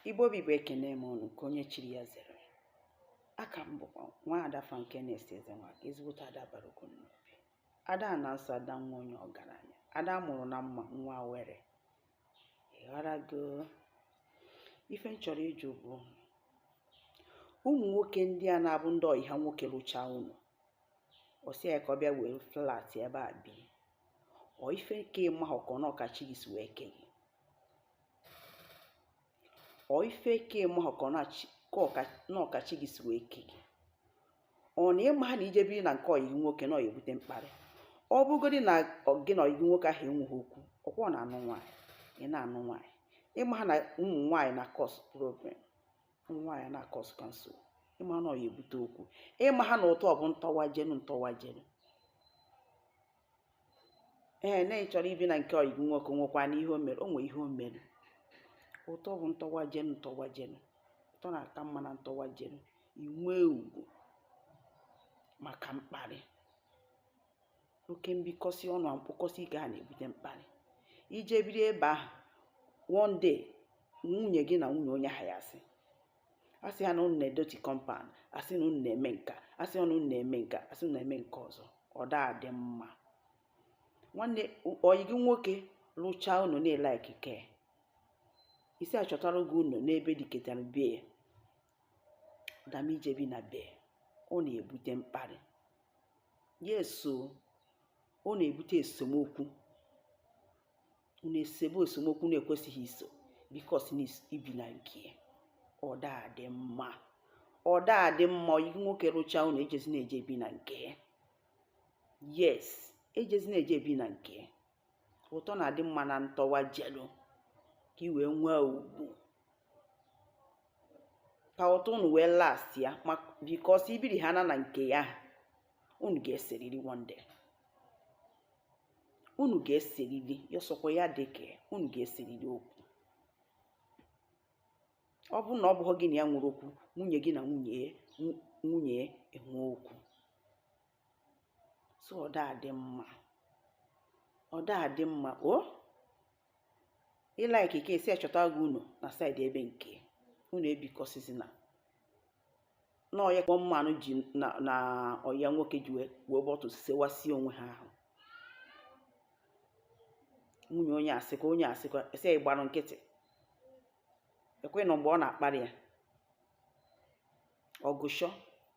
Igbo bụ Igbo ekene m unu nke onye chiri ya zere aka m bụkwa nwa ada Frankenes Ezenwaka ezigbote ada bara ọgụ n'obi ada a na-asọ ada nwa onye ọgaranya ada mụrụ na mma nwa were ịghọrago ife m chọrọ ịjụ bụ ụmụ nwoke ndị a na-abụ ndị ọyị ha nwoke lụchaa ụnọ ọ sị ya ka ọ bịa were flat ebe a bi ọ ife nke ịma ọkọ na ọ ka chi gị si wee kee gị ọ ife nke ịma ọkọ na ọ ka chi gị si wee kee gị ọ na ịmaha na ije biri na nke ọyị gị nwoke na ọ ya-ebute mkparị ọ bụgodị na gị na ọyị gị nwoke ahụ enweghị okwu ọkwa ọ na-anụ nwaanyị ị na-anụ nwaanyị ịmaha na ụmụ nwaanyị na-cause problem nwaanyị na-akọsụka nso ịmaha na ọ ya-ebute okwu ịmaha na ụtọ bụ ntọwa jenu ntọwa jenu ee na ị chọrọ ibi na nke ọyị gị nwoke nwekwa na ihe o mere o nwee ihe o mere ụtọ bụ ntọwa jenu ntọwa jenu ụtọ na-aka mma na ntọwa jenu i nwee ugwu maka mkparị oke mbikọsị ọnụ mkpọkọsị ike a na-ebute mkparị ije biri ebe ahụ one day nwunye gị na nwunye onye ahụ ya-asị asị ha na unu na-edọtị compound asị na unu na-eme nka asị na unu na-eme nka asị na eme nke ọzọ ọ daa dị mma nwanne ọyị gị nwoke lụchaa ụnọ na ị like kee ị sị ya chọtara gị ụnọ n'ebe dịketara be ya than ije bi na be ọ na-ebute mkparị yes o ọ na-ebute esemokwu unu esebe esemokwu na-ekwesịghị iso because na ibi na nke ọ daa dị mma ọ daa dị mma ọyị gị nwoke rụchaa ụnọ ejezina eje bi na nke yes ejezina eje bi na nke ụtọ na-adị mma na ntọwa jelu ka ị wee nwee ugwu ka ụtọ unu wee lastịa because ibiri ha na na nke ya unu ga-eseriri one day unu ga-eseriri ya sọkwa ya dị ka unu ga-eseriri okwu ọ bụrụ na ọ bụghị gị na ya nwere okwu nwunye gị na nwunye enwee okwu so ọda adị mma ọda adị mma o ị like ke e sị ya chọta gị ụnọ na side ebe nke unu ebikọsizina na ọya kpọ mmanụ ji na ọyị ya nwoke ji wee bọtụ sewasie onwe ha ahụ nwunye onye asịkọ onye asịkọ ese ịgbarụ nkịtị ekwe nọ mgbe ọ na-akparị ya ọgụ esu o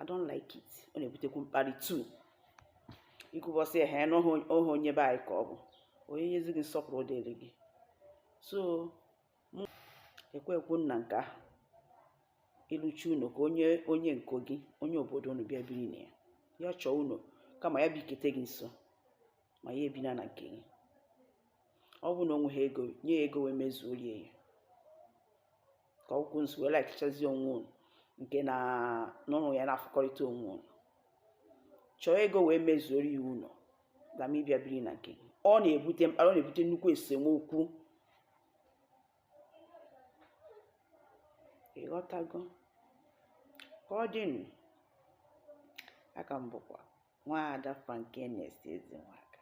I don't like it ọ na-ebutekwu mkparị too ikwubọsị ehe n'ohe onye be anyị ka ọ bụ onye nyezi gị nsọpụrụ dịrị gị so ekwekwana nke ahụ ị lụcha ụnọ ka onye onye nke gị onye obodo unu bịa biri na ya ya chọọ ụnọ kama ya bikete gị nso ma ya ebina na nke gị ọ bụ na o nweghị ego nye ya ego wee mezuoro ya ka ọgwụkwụ nso wee lakichazi onwe unu nke na unu ya na-afụkọrịta onwe unu chọọ ego wee mezuoro ya ụnọ kama ịbịa biri na nke ọ na-ebute mkparị ọ na-ebute nnukwu esemokwu ịghọtago ka ọ dị nụ a ka m bụkwa nwaada Frankenes Ezenwaka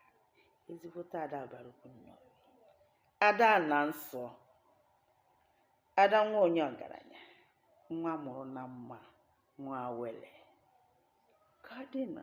ezigbote ada bara nnọọ ada na nsọ ada nwa onye ọgaranya nwa a mụrụ na mma nwa wele ka ọ dịnụ